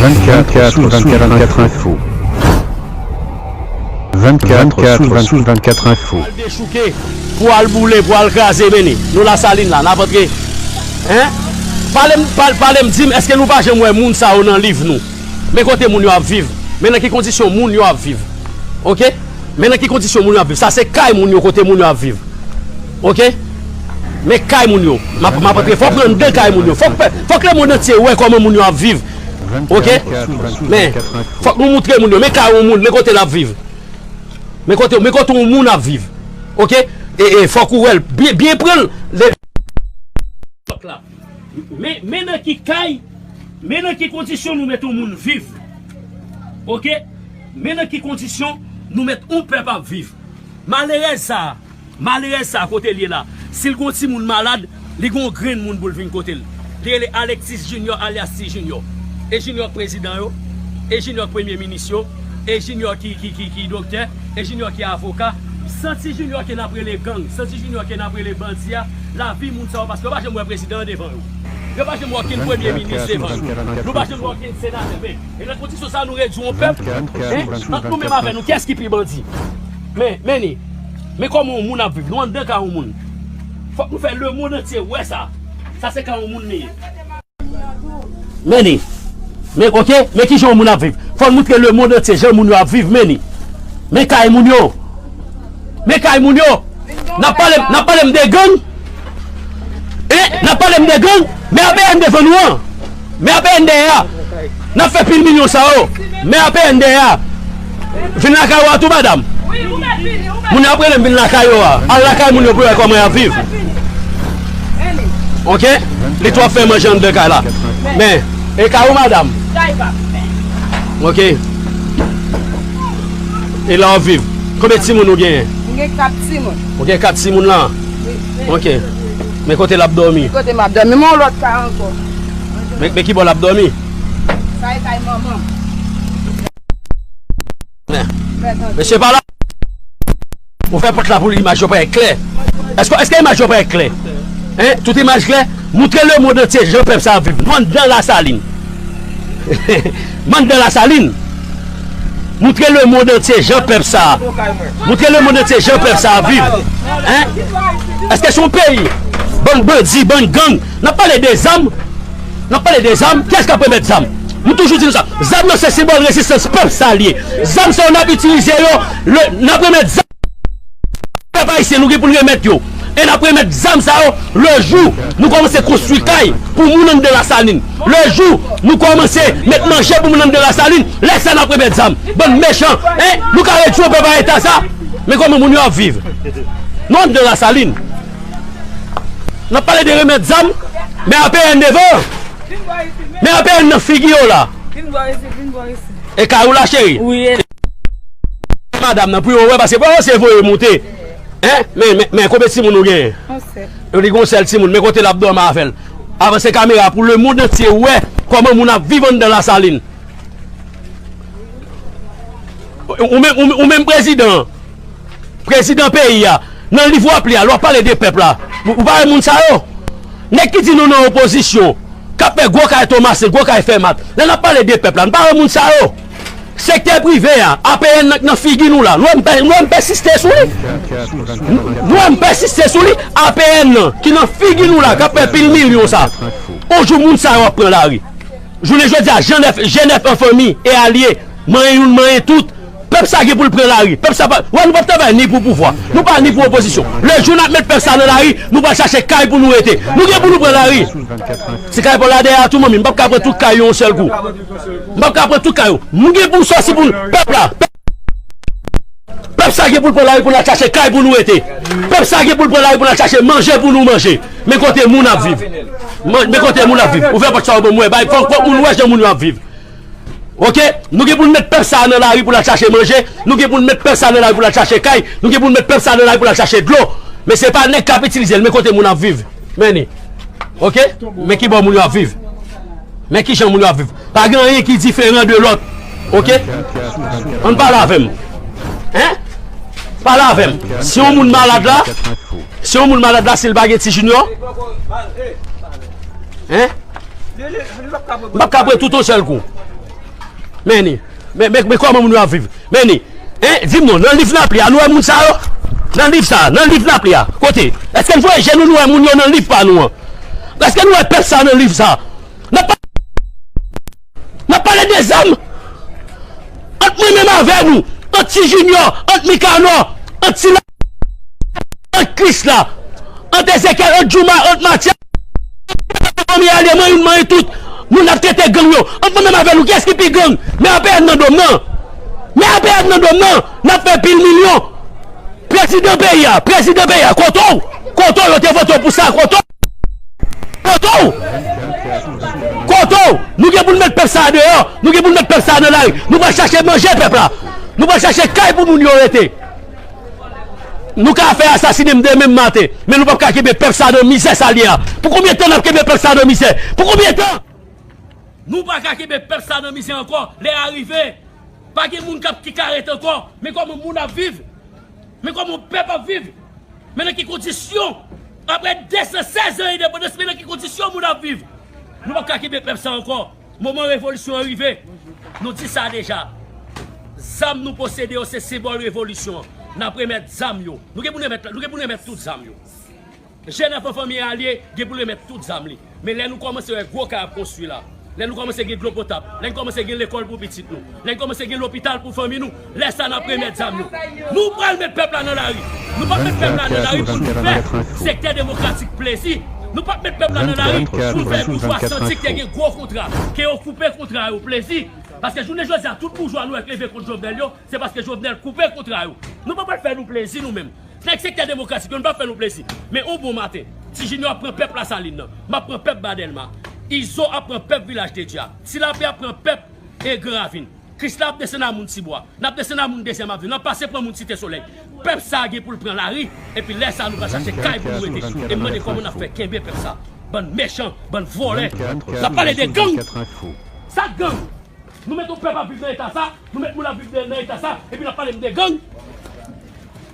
24 sous 24 24 info 24 sous 24 sous 24 info Al dechouke pou al boule pou al kraze meni nou la salin la nap antre hein palem palem dim eske nou pa janm wè moun sa yo nan liv nou men kote moun yo ap viv men nan ki kondisyon moun yo ap viv ok men nan ki kondisyon moun yo ap viv sa se kay moun yo kote moun yo ap viv Ok men kay moun yo map map antre fok renmn de kay moun yo fok pèp fok le mond antye wè koman moun yo ap viv ok men fok nou moutre moun yo men kay yon moun men kote lap viv men kote men kote yon moun ap viv ok e e fok ou wèl byen byen pranl le fok la men men nan ki kay men nan ki kondisyon nou met yon moun viv ok men nan ki kondisyon nou met yon pèp ap viv malerèz sa. Malerèz sa kote l ye la? Si l gon timoun malad, li gon grenn moun pou l vin kote l. Li rele Alexis Junior alyas Ti Junior. E Junior k prezidan yo? E Junior k premye minis yo? E Junior ki ki doktè? E Junior ki avoka? San Ti Junior ke n ap rele gang, san Ti Junior ke n ap rele bandi a, lavi moun sa yo paske yo pa janm wè prezidan an devan yo. Yo pa janm wè okenn premye minis devan yo. Nou pa janm wè okenn senatè. Men, e nan kondisyon sa a nou redui yon pèp? Ant nou menm avè nou, kiyès ki pi bandi? Men, men li. Men kòman yon moun ap viv. Nou anndan ka yon moun. Fòk nou fè lemond antye wè sa. Sa se ka yon moun li ye. Men li. Men, oke, men kijan yon moun ap viv. Fòk nou moutre lemond antye jan moun yo ap viv. Men li. Men kay moun yo. Men kay moun yo. N ap pale m de gang. E nap pale m de gang men APN devan nou an men APN dèyè a nap fè pil milyon sa yo men APN dèyè a vin lakay ou a tou madam moun yo ap rele m vin lakay yo a al lakay moun yo pou wè kòman yap viv ok li twòp fè manje anndan kay la men e kay ou madam ok e la wap viv konbyen timoun ou genyen m gen 4 timoun Ou gen kat timoun lan? Wi. Ok. Men kote l ap dòmi? Ki kote m ap dòmi? M gen yon lòt kay ankò. Men ki bò l ap dòmi? Sa e kay manman m. Mesye pa la. Ou fè pòt la pou imaj yo parèt klè. Eske imaj yo parèt klè? Tout imaj klè? Moutre lemonn antye jan pèp sa ap viv. Nou andan Lasalin. Mann dan lasalin moutre le mond antye jan pèp sa moutre le mond antye jan pèp sa ap viv hein eske son peyi bann bandi bann gang nap pale de zam nap pale de zam kiyès kap remèt zam m toujou di nou sa zam yo se senbòl rezistans pèp sa liye zam sa yo nap itilize yo le nap remèt zam. Pèp ayisyen nou gen pou n remèt yo e n ap remèt zam sa yo lè jou nou kòmanse konstwi kay pou moun anndan lasalin lè jou nou kòmanse met manje pou moun anndan lasalin lè sa n ap remèt zam bann mechan e nou ka redi yo pèp a eta sa men kòman moun yo ap viv nou anndan lasalin n ap pale de remèt zam men apn devan men apn nan figi yo la e kay ou la cheri. Mande madam nan pou yo wè paske bon se voye moute men konbe timoun ou gen yo di gon sèl timoun men kote lap dòmi avèl avanse kamera pou le mond antye wè kòman moun ap viv anndan lasalin ou menm prezidan prezidan peyi ya nan liv wap li ya lwa pale de pèp la ou pa wè moun sa yo nèk ki di nou nan opozisyon kap fè gwo kay tomasen gwo kay fèmat lè nap pale de pèp la nou pa wè moun sa yo. Sektè prive a, APN nan k nan figi nou la, nou an pèsiste sou li, nou an pèsiste sou li, APN nan ki nan figi nou la k ap pè pil milyon sa, on jou moun sa yo ap pran lari. Jounen jodi a, Jenèf an fanmi e alye, manyen youn manyen tout, pèp sa gen pou l pran lari, pèp sa pa, wè nou p ap travay ni pou pouvwa, nou pa ni pou opozisyon. Le jou n ap met pèp sa nan lari, nou pral chache kay pou nou rete. Nou gen pou nou pran lari. Ti kay pou l la dèyè a tou manmi, m p ap ka pran tout kay yo yon sèl kou. Nou pap ka pran tout kay yo. Nou gen pou nou sòti pou nou. Pèp la. Pèp sa gen pou l pran lari pou n al chache kay pou nou rete. Pèp sa gen pou l pran lari pou n al chache manje pou nou manje. Men kote moun ap viv. Men kote moun ap viv. Ouvè pòt sa yo pou mwen. Bay fòk fòk moun wè jan moun yo ap viv. Ok. Nou gen pou nou met pèp sa nan lari pou l al chache manje. Nou gen pou nou met pèp sa nan lari pou l al chache kay. Nou gen pou nou met pèp sa nan lari pou l al chache dlo. Men se pa nèg k ap itilize l. Men kote moun ap viv. Many. Ok? Men ki bò moun yo ap viv. Men ki jan moun yo ap viv. Pa gen anyen ki diferan de lòt. Ok? An pale avè m. Hein? Pale avè m. Si yon moun malad la, si yon moun malad la si l pa gen ti junior? Hein? M pap ka pran tout yon sèl kou. Many. Men men men kòman moun yo ap viv men ni en di m non nan liv lapli a nou wè moun sa yo nan liv sa nan liv lapli a kote èske n voye je nou nou wè moun yo nan liv pa nou an èske nou wè pèp sa nan liv sa n ap n ap pale de zam ant mwen menm avè nou ant ti jinyò ant mikanò ant sila. Ant Kris la, ant Ezekyèl, ant Jooma, ant Matya, ant Pè Anpè, ant Anpè Anpè, ant Anpè Anpè, ant Anpè Anpè, mwen youn mwen youn tout, moun ap trete gang yo, ant mwen menm avè nou, kiyès ki pi gang? Men Anpè Anpè nan dom nan, men Anpè Anpè nan dom nan, nap fè pil milyon. Prezidan peyi a, prezidan peyi a, kote w? Kote w? Yo te vote w pou sa, kote w? Kote w? Kote w? Nou gen pou nou met pèp sa a deyò, nou gen pou nou met pèp sa a nan lari, nou pral chache manje pèp la, nou pral chache kay pou moun yo rete. Nou ka fè asasine m demen maten, men nou pap ka kenbe pèp sa nan mizè sa l ye a. Pou konbyen tan n ap kenbe pèp sa nan mizè? Pou konbyen tan? Nou pa ka kenbe pèp sa nan mizè ankò. Lè a rive. Pa gen moun kap ki ka ret ankò. Men kòman moun ap viv. Men kòman pèp ap viv. Men nan ki kondisyon. Aprè 216 an endepandans men nan ki kondisyon moun ap viv. Nou pap ka kenbe pèp sa ankò. Moman revolisyon an rive, nou di sa deja. Zam nou posede yo se senbòl revolisyon an. N ap remèt zam yo. Nou gen pou n remèt tout zam yo. Jèn anfan fanmi alye gen pou l remèt tout zam li. Men lè nou kòmanse wè gwo kay ap konstwi la, lè nou kòmanse gen dlo potab, lè n kòmanse gen lekòl pou pitit nou, lè n kòmanse gen lopital pou fanmi nou, Lè sa nap remèt zam yo. Nou pral met pèp la nan lari. Nou pap met pèp la nan lari pou nou fè sektè demokratik plezi. Nou pap met pèp la nan lari pou nou fè boujwa santi ke te gen gwo kontra, ke yo koupe kontra yo plezi. Paske jounen jodi a tout boujwa nou wè k leve kont Jovenel yo, se paske Jovenel koupe kontra yo. Nou pa pral fè nou plezi nou menm. Nèg sektè demokratik yo nou pap fè nou plezi. Men yon bon maten, Ti Junior ap pran pèp Lasalin nan. Map pran pèp Ba Dèlma. Izo ap pran pèp Vilaj de Dye a. Ti Lapè ap pran pèp Egre Ravin. Kris la ap desann nan moun Tibwa. N ap desann nan moun Dezyèm Avni. N ap pase pran moun Site Solèy. Pèp sa a gen pou l pran lari. Epi lè sa a nou pral chache kay pou nou rete. E m mande kòman n ap fè kenbe pèp sa a. Bann mechan, bann vòlè. N ap pale de gang! Sa k gang? Nou met yon pèp ap viv nan eta sa a, nou met moun ap viv nan eta sa a, epi n ap pale m de gang?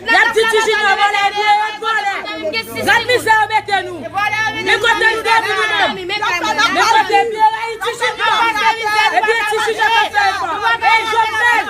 Yap di ti junior vòlè epi yo yap vòlè gad mizè yo mete nou men kote nou dwe vini menm men kote epi yo rayi ti junior epi e ti junior kap fè efò ey jovenel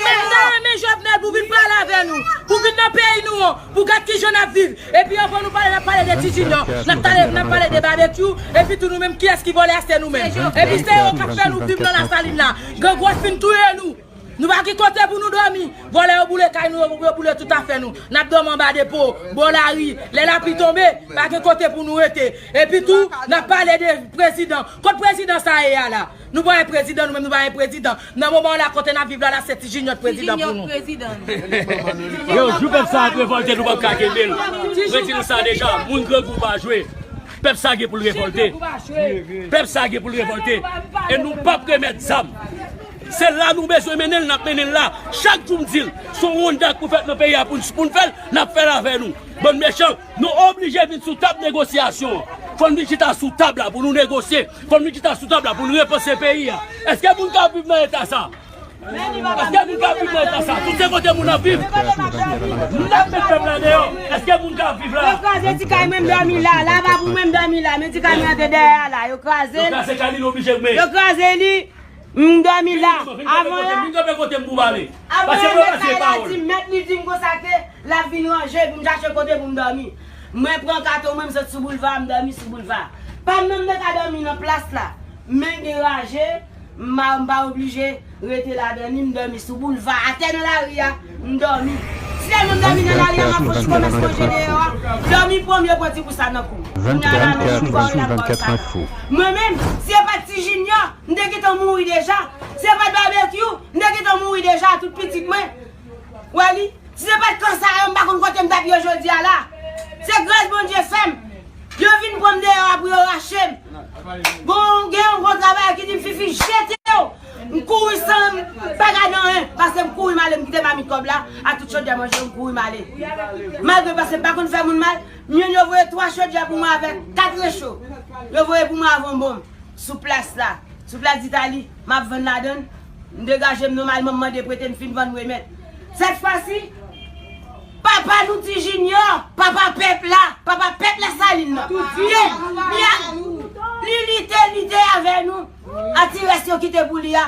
menm ta renmen jovenel pou vin pale avè nou pou vin nan peyi nou an pou gad kijan nap viv epi anvan nou pale nap pale de ti junior nap tale nap pale de babekyou epi tou nou menm kiyès ki vòlè a se nou menm epi se yo kap fè nou viv nan lasalin la grangou ap fin touye nou. Nou pa ki kote pou nou dòmi. Vòlè yo boule kay nou yo, yo boule tout afè nou. N ap dòmi anba depo, bò lari. Lè lapli tonbe, pa gen kote pou nou rete. Epi tou, n ap pale de prezidan. Kot prezidan sa ye a la? Nou pa wè prezidan, nou menm nou pa gen prezidan. Nan moman an la, kote n ap viv la la, se Ti Jinyòt prezidan pou nou. Yo, jou pèp sa ap revòlte, nou pap ka kenbe l. Mwen di nou sa deja, moun grangou pa jwe. Pèp sa gen pou l revòlte. Pèp sa gen pou l revòlte. E nou pap remèt zam. Se la nou bezwen mennenl nap mennenl la chak jou m dil son wonda k pou fèt nan peyi a poun fèl nap fèl avè nou bann mechan nou oblije vin sou tab negosyasyon an fòn vin chita sou tab la pou nou negosye fòn vin chita sou tab la poun repanse peyi a eske moun kap viv nan eta sa eske moun kap viv nan eta sa tout se kote moun ap viv nap met pèp la deyò eske moun kap viv la yo kraze ti kay mwen m dòmi la lavabo mwen m dòmi la men ti kay mwen an te dèyè a la yo krazel yo kraze kay li li oblije goumen yo kraze li. M dòmi la, avan la Vin kanpe kote m pou m pale. Avan la mèt kay la di m, mèt li di m konsa ke l ap vin ranje pou m chache kote pou m dòmi. Mwen pran katon mwen m sot sou boulva a m dòmi sou boulva a. Pa m menm te ka dòmi nan plas la, men gen raje m pa m pa oblije rete ladan li m dòmi sou boulva a atè nan lari a m dòmi. Ti tèlman m dòmi nan lari a m ap fon ti komès manje deyò a, dòmi pwomye pran ti kousa nan kou m. Kounya la menm m tou pa w la m pa w sa nan. Mwen menm, si yo pa t ti jinyò, M te gentan mouri deja. Si se pat Barbecue, m te gentan mouri deja a tout pitit mwen. Wè li. Si se pat kan sa yo, m pa konn kote m t ap ye jodi a la. Se gras Bondye fè m. Yo vin pran m deyò a pou yo rache m. Gon, gen yon gwo travayè ki di m, Fifi, jete yo! M kouri san m pa gade anyen, pase m kouri m ale m kite mamit kòb la ak tout chodyè manje yo, m kouri m ale. Malgre pase m pa konn fè moun mal, m jwenn yo voye twa chodyè pou mwen avèk kat recho. Yo voye pou mwen avon bon m. Sou plas la, sou plas ditali, m ap vann ladan l. M degaje m nòmalman, m mande prete, m fin vann m remèt. Sètfwasi, papa nou Ti Jinyò, papa pèp la, papa pèp Lasalin nan, lye, li a, li lite, lite avè nou, ak ti rès yo kite pou li a.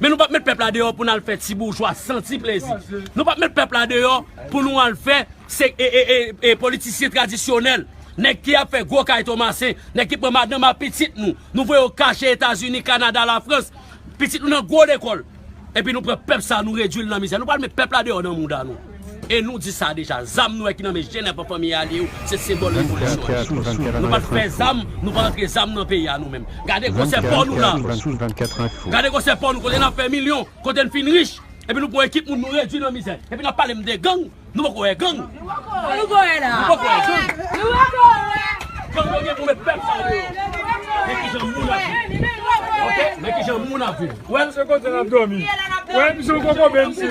Men nou pap met pèp la deyò pou nal fè ti boujwa santi plezi. Nou pap met pèp la deyò pou nou al fè se e politisyen tradisyonèl. Nèg ki ap fè gwo kay Tomasen, nèg ki pran madanm a pitit nou, nou voye yo kache Etazini, Kanada, Lafrans. Pitit nou nan gwo lekòl. Epi nou pran pèp sa nou redui l nan mizè. Nou pral met pèp la deyò nan mouda nou. E nou di sa deja, zam nou wè ki nan men jenè pa fanmi alye yo, se senbòl revolisyon an. Nou pa t fè zam, nou pa antre zam nan peyi a nou menm. Gade konsè pò nou la. Gade konsè pò nou kote n ap fè milyon, kote n fin rich. Epi nou pran ekip moun nou redui nan mizè. Epi n ap pale m de gang, nou poko wè gang. Nou poko wè la. Nou poko wè gang. Nou poko wè. Gang yo gen pou met pèp sa deyò. Men ki jan moun ap viv. Ok, men ki jan moun ap viv. Ou wè l. Se kote n ap dòmi. Ou wè l, misye ou poko benn si.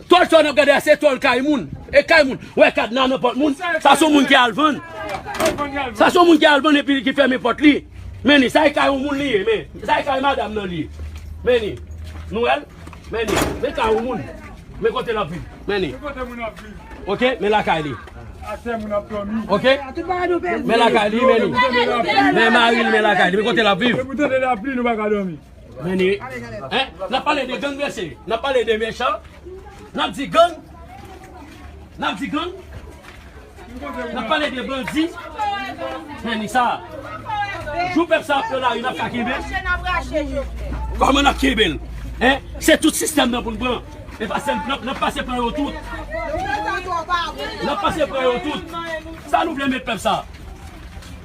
Tòl tòl nap gade a se tòl kay moun e kay moun wè kadna nan pòt moun sa son moun ki al vann sa son moun ki al vann epi ki fèmen pòt li men ni sa e kay yon moun li ye men sa e kay madam nan li men ni nou wèl men ni men kay yon moun men kote lap viv men ni ok men lakay li ok men lakay li men ni men maril men lakay li men kote lap viv. Meni eh nap pale de gang mesye nap pale de mechan nap di gang nap di gang nap pale de bandi meni sa jou pèp sa ap pran lari nap ka kenbe kòman nap kenbe l eh se tout sistèm nan pou n pran e pa sèl nap nap pase pran yo tout nap pase pran yo tout sa nou vle met pèp sa.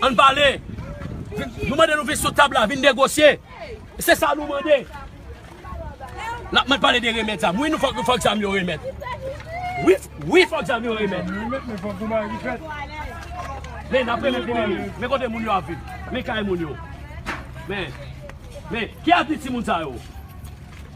Ann pale. Nou mande nou vin sou tab la, vin negosye. Se sa nou mande. L ap mèt pale de remèt zam. Wi, fòk zam yo remèt. Wi, fòk zam yo remèt. Men, n ap remèt pou moun yo. Men kote moun yo ap viv. Men kay moun yo. Men, ki abit timoun sa yo?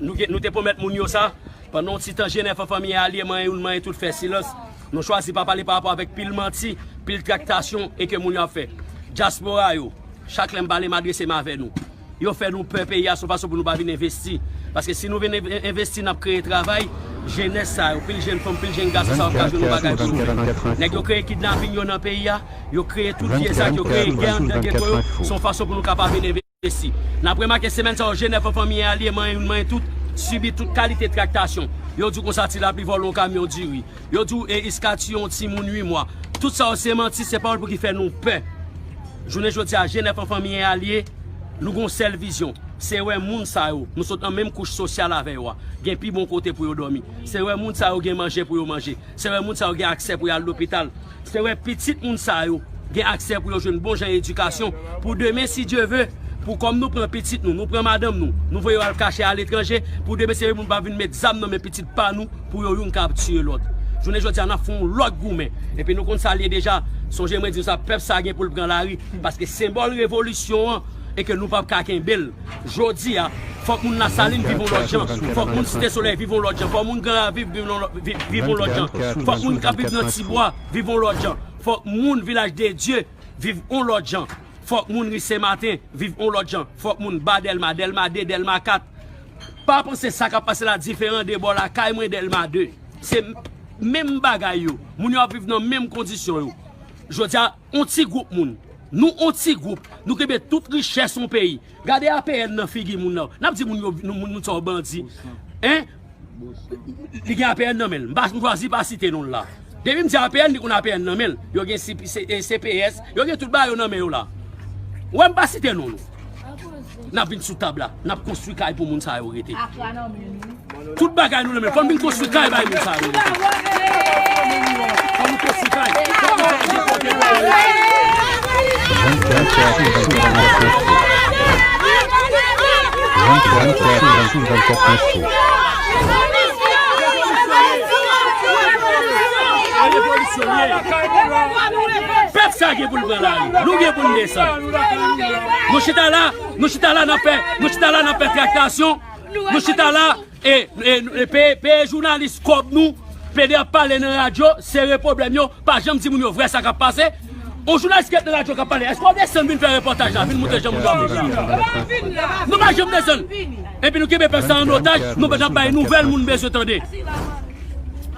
Nou te pwomèt moun yo sa. Pandan yon ti tan Jenè fè fanmi an alye manyen youn manyen tout fè silans. Nou chwazi pa pale parapò avèk pil manti, pil traktasyon e ke moun yo ap fè. Dyaspora yo, chak lè m pale m adrese m avè nou. Yo fè nou pè peyi a son fason pou nou pa vin envesti. Paske si nou vin envesti n ap kreye travay, jenès sa yo, pil jenn fanm, pil jenn gason sa yo ka jwenn yon bagay pou yo fè. Nèg yo kreye kidnaping yo nan peyi a, yo kreye tout vye zak, yo kreye gè antre geto yo, son fason pou nou ka pa vin envesti. Esi. N ap remake semèn sa yo je nèf an fanmi e alye manyen youn manyen tout, sibi tout kalite traktasyon. Yo di w konsa ti lapli vòlò yon kamyon diri. Yo di w e iska tiye yon timoun ui mwa. Tout sa yo se manti, se pawòl pou ki fè nou pè. Jounen jodi a, je nèf an fanmi e alye, nou gen yon sèl vizyon, se wè moun sa yo, nou sot nan menm kouch sosyal avè yo a, gen pi bon kote pou yo dòmi. Se wè moun sa yo gen manje pou yo manje. Se wè moun sa yo gen aksè pou y al lopital. Se wè pitit moun sa yo gen aksè pou yo jwenn bon jan edikasyon pou demen si Dye ve, pou kòm nou pran pitit nou, nou pran madanm nou, nou voye yo al kache aletranje, pou demen si Dye ve moun pa vin met zam nan men pitit pa nou pou yo youn ka ap tiye lòt. Jounen jodi a n ap fè yon lòt goumen. Epi nou konn sa l ye deja. Sonje mwen di nou sa, pèp sa gen pou l pran lari paske senbòl revolisyon an e ke nou pap ka kenbe l. Jodi a, fòk moun Lasalin viv yon lòt jan, fòk moun Site Solèy viv yon lòt jan, fòk moun Gran Raviv viv yon lòt jan, fòk moun k ap viv nan Tibwa viv yon lòt jan, fòk moun Vilaj de Dye viv yon lòt jan, fòk moun Ri Sen Maten viv yon lòt jan, fòk moun Ba Dèlma, Dèlma 2, Dèlma 4. Pa panse sa k ap pase la diferan de bò lakay mwen Dèlma 2. Se menm bagay yo. Moun yo ap viv nan menm kondisyon yo. Jodi a. On ti group moun. Nou on ti group. Nou kenbe tout richès on peyi. Gade APN nan figi moun la. Nap di moun yo nou moun nou sa yo bandi. Hein? Li gen APN nan menl. Mpa chwazi pa site nonl la. Depim di APN li konn APN nan menl. Yo gen CPS. Yo gen tout bagay yo nan men yo la. Ou wè mpa site non nou. Nap vin sou tab la, nap konstwi kay pou moun sa yo rete. Tout bagay nou renmen, fò nou vin konstwi kay bay moun sa yo rete. Fò nou konstwi kay, fò moun sa yo gen kote pou yo rete. Pèp sa gen pou l pran lari, nou gen pou n desann. Nou chita la, nou chita la nan fè, nou chita la nan fè traktasyon, nou chita la e peye jounalis kòb nou, plede ap pale nan radyo, sere problem yo, pa janm di moun yo vre sa kap pase. Yon jounalis ki ap nan radyo kap pale, eske wap desann vin fè repòtaj la, vin moute jan moun yo ap viv la? Nou pa janm desann. Epi nou kenbe pèp sa an otaj, nou pa janm bay nouvèl moun bezwen tande.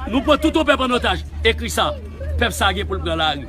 Nou pran tout yon pèp an otaj. Ekri sa, pèp sa gen pou l pran lari.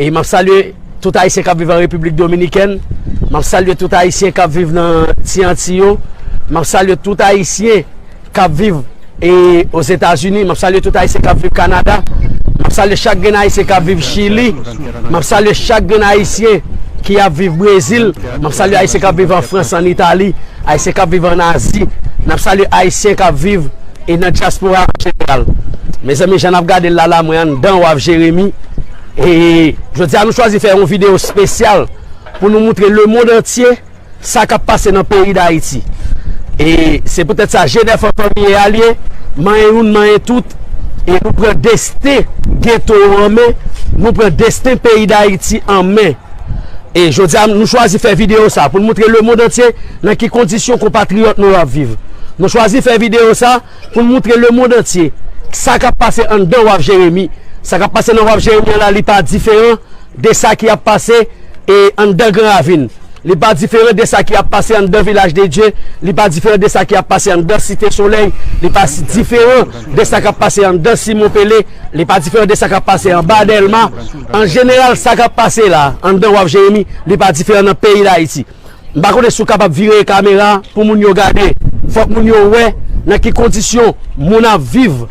E map salye tout ayisyen kap viv an Repiblik Dominikèn, map salye tout ayisyen kap viv nan ti Anti yo, map salye tout ayisyen kap viv e Ozetazini, map salye tout ayisyen kap viv Kanada, map salye chak grenn ayisyen kap viv Chili, map salye chak grenn ayisyen ki ap viv Brezil, map salye ayisyen kap viv an Frans, an Itali, ayisyen kap viv an Azi, nap salye ayisyen kap viv. E nan dyaspora an jeneral. Mezanmi jan nap gadel la la mwen anndan waf Jeremi e jodia nou chwazi fè yon video spesyal pou nou moutre le mond antye sa kap pase nan peyi dayiti e se poutèt sa jenèf an fanmi e alye manyen youn manyen tout e nou pran desten geto an men nou pran desten peyi dayiti an men e jodia nou chwazi fè video sa pou nou moutre le mond antye. Nan ki kondisyon konpatriyòt nou yo ap viv? Nou chwazi fè videyo sa pou n moutre lemond antye sa k ap pase anndan waf Jeremi. Sa k ap pase nan waf Jeremi an la li pa diferan de sa ki ap pase anndan Gran Ravin. Li pa diferan de sa ki ap pase anndan Vilaj de Dye. Li pa diferan de sa ki ap pase anndan Site Solèy. Li pa diferan de sa k ap pase anndan Simon Pele. Li pa diferan de sa k ap pase anba Dèlma. An jeneral sa k ap pase la anndan waf Jeremi li pa diferan nan peyi Dayiti. M pa konnen si w kapab vire kamera pou moun yo gade. Fòk moun yo wè nan ki kondisyon moun ap viv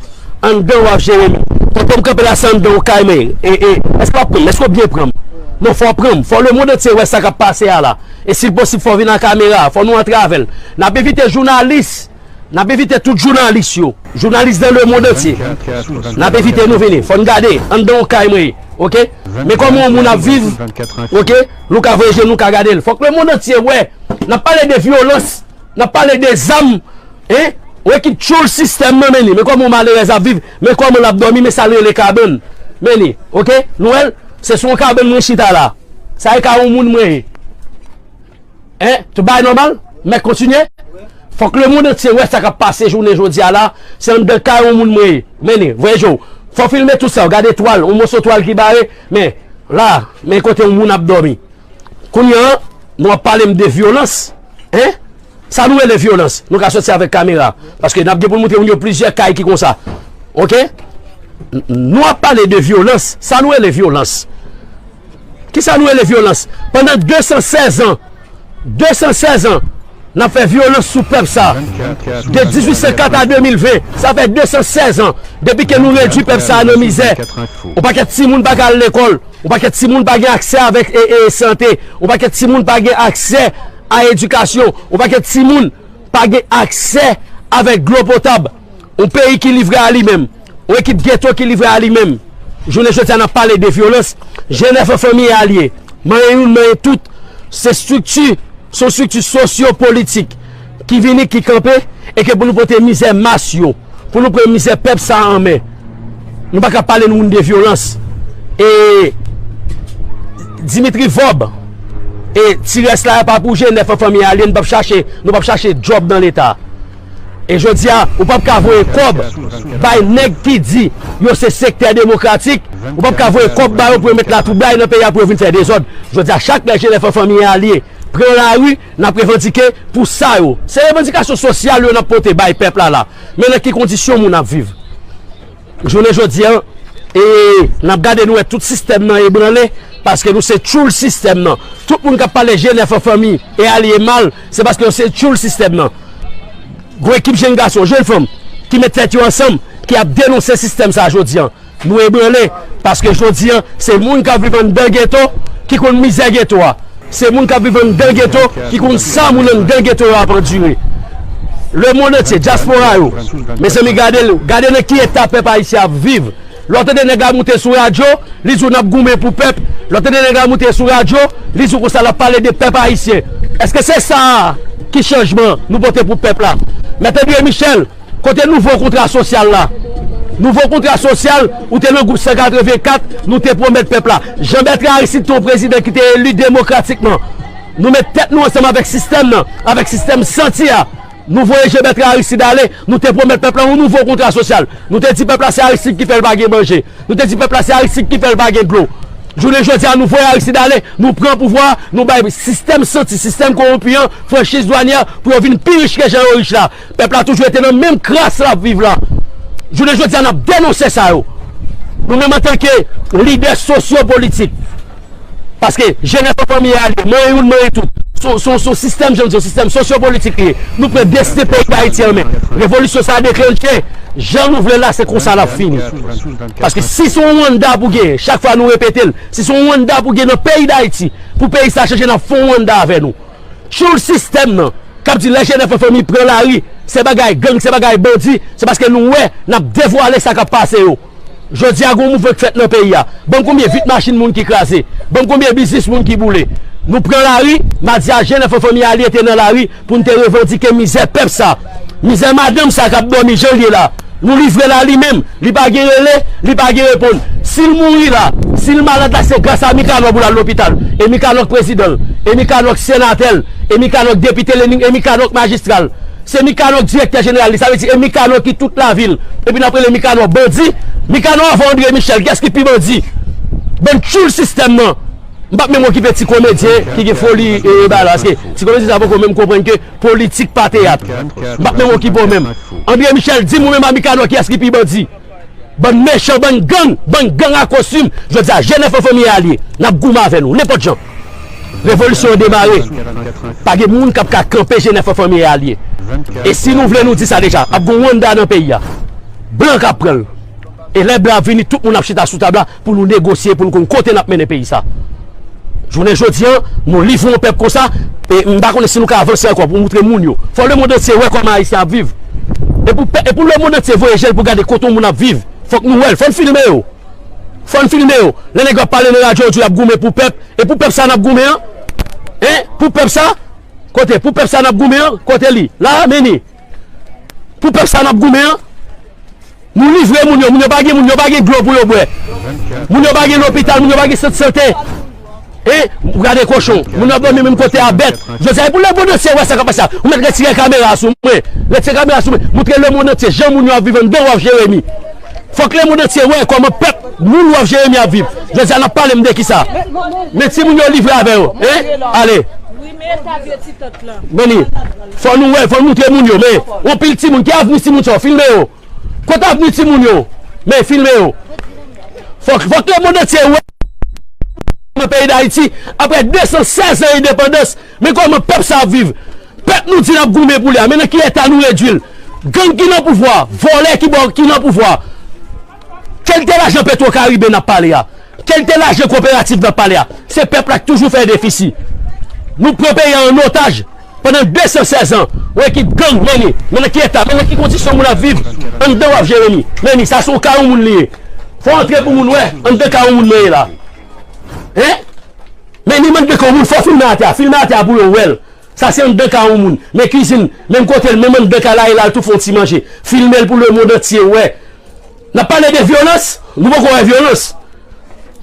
anndan w Jeremi. Kote m kanpe la se anndan yon kay men e èske w ap pran m? Èske w byen pran m? Non fò w pran m. Fò lemond antye wè sa k ap pase a la. E si l posib fò w vin ak kamera a. Fò nou antre avè l. N ap envite jounalis. N ap envite tout jounalis yo, jounalis nan lemond antye, n ap envite nou vini. Fò n gade anndan yon kay mwen, ok? Men kòman yon moun ap viv, ok? Nou ka voye je nou ka gade l. Fòk lemond antye wè, n ap pale de vyolans, n ap pale de zam, hein? Yon ekip tchoul sistèm nan, men ni. Men kòman yon malerèz ap viv, men kòman l ap dòmi, men sa l rele kabann. Men ni, ok? Nou wè l? Se sou yon kabann mwen chita la. Sa e ka yon moun mwen ye. Hein tout bagay nòmal mèt kontinye fòk le mond antye wè sa kap pase jounen jodi a la se anndan kay on moun mwen ye mennen voye je w fò filme tout sa w gade twal on moso twal ki bare men la men kote on moun ap dòmi kounye an nou ap pale m de vyolans hein sa nou rele vyolans nou ka soti avèk kamera paske nap gen pou nou moutre moun yo plizyè kay ki konsa ok nou ap pale de vyolans sa nou rele vyolans. Kisa nou rele vyolans? Pandan 216 an, 216 an, n ap fè vyolans sou pèp sa a. De 1804 a 2020, sa fè 216 an depi ke nou redui pèp sa a nan mizè. Yon pakèt timoun pa ka al lekòl, yon pakèt timoun pa gen aksè avèk sante, yon pakèt timoun pa gen aksè a edikasyon, yon pakèt timoun pa gen aksè avèk dlo potab. yon peyi ki livre a li menm, yon ekip geto ki livre a li menm. Jounen jodi a n ap pale de vyolans, jenèf an fanmi e alye, manyen youn manyen tout, se estrikti, se yon estrikti sosyo politik ki vini, ki kanpe, e ke pou nou pote mizè mas yo, pou nou pran mizè pèp sa an men. Nou pa ka pale nou moun de vyolans. E Dimitri Vob, e ti rès la a pa pou jenèf an fanmi e alye, nou p ap chache, nou p ap chache djòb nan leta. E jodia ou pap ka voye kob bay neg ki di yo se sekte demokratik ou pap ka voye kob bayo pou yo met la troublay nan peyi a pou yo vin fè dezod jodia chak lè jenèf an fanmi alye pran lari nap revandike pou sa yo se revandikasyon sosyal yo nap pote bay pèp la la men nan ki kondisyon moun ap viv. Jounen jodi an e nap gade nou wè tout sistèm nan ebranle paske nou se tchoul sistèm nan. Tout moun kap pale je nèf an fanmi e ale e mal se paske yo se tchoul sistèm nan. Gon ekip jenn gason, jenn fanm ki met tèt yo ansanm ki ap denonse sistèm sa jodi an. Nou ebranle paske jodi an se moun kap viv anndan geto ki konn mizè geto a. Se moun kap viv anndan geto ki konn sa moun anndan geto yo ap andire. Le mond antye, dyaspora yo, mezanmi gade l, gade nan ki eta pèp ayisyen ap viv. Lè w tande nèg la moute sou radyo, li di w nap goumen pou pèp, lè w tande nèg la moute sou radyo, li di w konsa lap pale de pèp ayisyen. Eske se sa a ki chanjman nou pote pou pèp la? Mèt André Michel! Kote nouvo kontra sosyal la? Nouvo kontra sosyal ou te nan gwoup 184 nou te pwomèt pèp la. Jean Bertrand Aristide te yon prezidan ki te eli demokratikman. Nou met tèt nou ansanm avèk sistèm nan, avèk sistèm santi a. Nou voye Jean Bertrand Aristide ale, nou te pwomèt pèp la yon nouvo kontra sosyal. Nou te di pèp la se Aristide ki fè l pa gen manje. Nou te di pèp la se Aristide ki fè l pa gen dlo. Jounen jodi a nou voye Aristide ale, nou pran pouvwa a, nou bay sistèm santi, sistèm kowonpi an franchiz dwanyè pou yo vin pi rich ke jan yo rich la. Pèp la toujou rete nan menm kras lap viv la. Jounen jodi a nap denonse sa yo. Nou menm antanke lidè sosyo politik. Paske jenès se fanmi a liye. Mwen youn mwen tout. Son sistèm jan nou di yo sistèm sosyo politik liye. Nou pran destin peyi dayiti an men. Revolisyon sa deklenche jan nou vle la se konsa lap fini. Paske si son Rwanda pou gen chak fwa nou repetel. Si son Rwanda pou gen nan peyi dayiti pou peyi sa chanje nap fon Rwanda avè nou. Tchoul sistèm nan kap di lajenèf an fanmi pran lari se bagay gang se bagay bandi se paske nou wè nap devwale sa kap pase yo jodi a gon mouvman ki fèt nan peyi a banm konbyen vit machin moun ki kraze banm konbyen biznis moun ki boule nou pran lari madi a jenèf an fanmi alye te nan lari poun te revandike mizè pèp sa mizè madanm sa kap dòmi janl ye la. Nou livre la li menm, li pa gen rele, li pa gen reponn. Si l mouri la, si l malad la se gras a Mikanò pou l al lopital. E Mikanò k prezidan l, e Mikanò k senatè l, e Mikanò k depite l, e Mikanò k majistra l. Se Mikanò k direktè jeneral li. Sa vle di e Mikanò ki tout lavi l. Epi n ap rele Mikanò bandi. Mikanò anvan Andre Michel kiyès ki pi bandi? Bann tchoul sistèm nan. M pa p menm okipe ti komedyen ki gen foli e bay la. Paske ti komedyen sa poko menm konprann ke Politik pa teyat. M pap menm okipe w menm. André Michel di m ou menm a Mikanò kiyès ki pi bandi. Bann mechan, bann gang, bann gang a kostim. Jodi a jenèf an fanmi alye. N ap goumen avè nou. Nenpòt jan. Revolisyon an demare. Pa gen moun k ap ka kanpe jenèf an fanmi alye. E si nou vle nou di sa deja. Ap gen yon Rwanda nan peyi a. Blan k ap pran l. E lè ble a vini tout moun ap chita sou tab la pou nou negosye pou nou konn kote nap mennen peyi sa. Jounen jodi an nou livre yon pèp konsa e m pa konnen si nou ka avanse ankò pou moutre moun yo. Fò lemond antye wè kòman Ayisyen ap viv. E pou e pou lemond antye voye je l pou gade kote yon moun ap viv. Fòk nou wè l. Fòn filme yo. Fòn filme yo. Lè nèg yo ap pale nan radyo yo di yo ap goumen pou pèp. E pou pèp sa nap goumen an? Hein? Pou pèp sa? Kote? Pou pèp sa nap goumen an? Kote li? La a? Mennen. Pou pèp sa nap goumen an Nou livre moun yo Moun yo pa gen moun yo pa gen dlo pou yo bwè Moun yo pa gen lopital moun yo pa gen sant sante E ou gade kochon Moun yo ap domi menm kote a bèt Jodi a e pou lemonn antye wè sa kap pase a Ou mèt retire kamera sou mwen Retire kamera sou mwen Moutre lemonn antye jan moun yo ap viv anndan waf jeremi Fòk lemonn antye wè kòman pèp moun waf jeremi ap viv Jodi a nap pale m de kisa Men ti moun yo livre avè yo Ale. Meye ta vye ti tant lan. Meni, fò nou wè, fò nou moutre moun yo, men, yon pil timoun, ki avni timoun sa yo, filme yo, kote avni timoun yo, men, filme yo, fòk, fòk le mond antye wè, sa ki pase nan peyi dayiti, aprè 216 zan endepandans, men kòman pèp sa ap viv, pèp nou di nap goumen pou li a, men nan ki eta nou redwil, gang ki nan pouvwa, vòlè ki nan pouvwa. Kelte lajan petro karibe nap pale a kelte lajan koperativ nap pale a se pèp la ki toujou fè defisi nou pran peyi a an otaj pandan 216 an ou ekip gang many men nan ki eta men nan ki kondisyon moun ap viv anndan wap jere ni many sa son ka yon moun li ye fò antre pou moun wè anndan ka yon moun mwen ye la hein many many de ka yon moun fò filme atè a filme atè a pou yo wèl. Sa se anndan ka yon moun. Men kizin, menm kote l, menm anndan ka la e la l tou fè yon ti manje. Filme l pou lemond antye wè. N ap pale de vyolans, nou poko wè vyolans.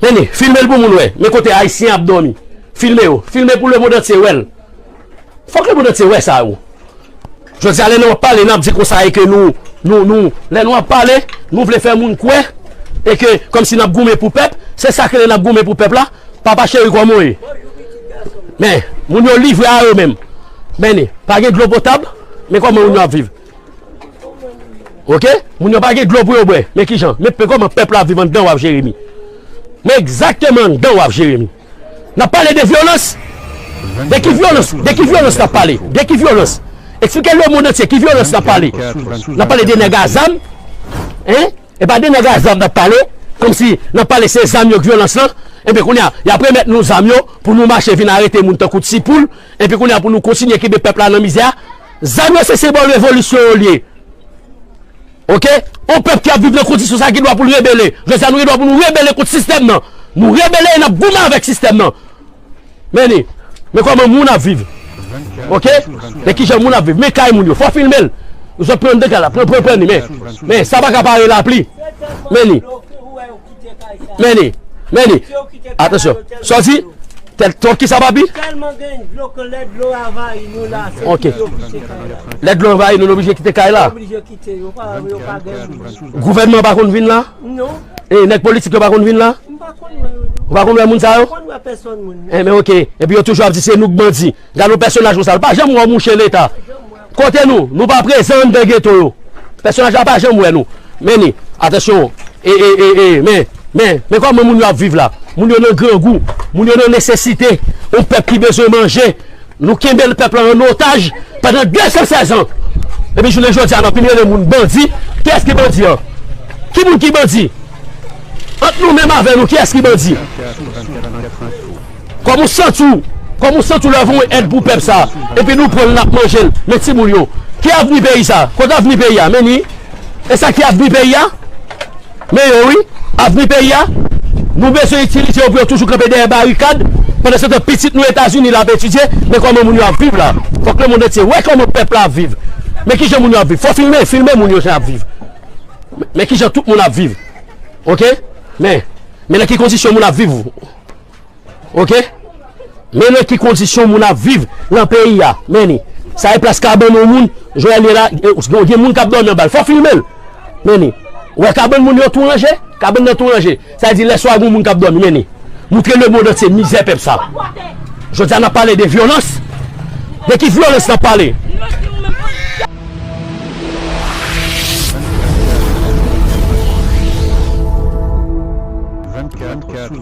Mennen, filme l pou moun wè. Men kote Ayisyen ap dòmi. Filme yo. Filme pou lemond antye wè l. Fòk lemond antye wè sa yo. Jodi a lè nou ap pale nap di konsa e ke nou nou nou lè nou ap pale nou vle fè moun kwè e ke kòm si nap goumen pou pèp se sak rele nap goumen pou pèp la papa cheri kòman w ye men moun yo livre a yo menm men ni pa gen dlo potab men kòman moun yo ap viv ok moun yo pa gen dlo pou yo bwè men kijan men kòman pèp la ap viv anndan waf jeremi men egzakteman anndan waf jeremi. Nap pale de vyolans? De ki vyolans? De ki vyolans nap pale? De ki vyolans? Eksplike lemond antye ki vyolans nap pale? Nap pale de nèg a zam? Hein? E pa de nèg a zam nap pale? Kòm si nap pale se zam yo k vyolans lan? Ebyen kounye a, yap remèt nou zam yo pou nou mache vin arete moun tankou ti poul, epi kounye a pou nou kontinye kenbe pèp la nan mizè a? Zam yo se senbòl revolisyon yo l ye. Ok, yon pèp ki ap viv nan kondisyon sa gen dwa pou l rebele. Lè sa nou gen dwa pou nou rebele kont sistèm nan. Nou rebele e n ap goumen avèk sistèm nan. Men li, men kòman moun ap viv. Ok, men kijan moun ap viv. Men kay moun yo. Fò filme l. Zòt pran andan kay la. Pran, pran, pran li. Men, men sa pa ka pa re lapli. Men li. Meni, meni, atansyon, sòti, tèt twòp ki sa papi? Tèlman gen dlo ke lè dlo anvayi nou la, se pou yo kite kay la. Lè dlo anvayi nou, nou oblije kite kay la? Nou oblije kite, yo pa gen moun. Gouvènman an pa konn vin la? Non. E nèg politik yo pa konn vin la? M pa konn wè yo non. Ou pa konn wè moun sa yo? M pa konn wè pèsòn moun. Enben ok, epi yo toujou ap di se nou k bandi. Gade yon pèsonaj konsa, l pa janm wè yon mouche leta. Kote nou? Nou pa prezan anndan geto yo. Pèsonaj la pa janm wè nou. Men ni. Atansyon. E, e, e, e, men, men, men kòman moun yo ap viv la. Moun yo nan grangou. Moun yo nan nesesite. Yon pèp ki bezwen manje. Nou kenbe l pèp la an otaj pandan 216 an. Epi jounen jodi a n ap vin rele moun bandi. Kiyès ki bandi an? Ki moun ki bandi? Ant nou menm avè nou kiyès ki bandi? Kòman ou santi w? Kòman ou santi w lè yo voye yon èd pou pèp sa a epi nou pran l n ap manje l? Men timoun yo, ki avni peyi sa a? Kot avni peyi a? Men li, e sa ki avni peyi a? Men yo wi, avni peyi a. Nou bezwen itilize yo pou yo toujou kanpe dèyè barikad. Pandansetan, pitit nou Etazini la ap etidye. Men kòman moun yo ap viv la. Fòk lemond antye wè kòman pèp la ap viv. Men ki jan moun yo ap viv. Fò filme, filme moun yo jan y ap viv. Men ki jan tout moun ap viv. Ok? Men, men nan ki kondisyon moun ap viv. Ok Men nan ki kondisyon moun ap viv nan peyi a Men ni Sa e plas kabann yon moun Joel ye la Gen moun kap dòmi anbal Fò filme l Men ni Ou wè kabann moun yo tou ranje Kabann nan tou ranje Sa vle di lè swa gen yon moun kap dòmi Men ni Moutre lemond antye mizè pèp sa Jodi a n ap pale de vyolans De ki vyolans n ap pale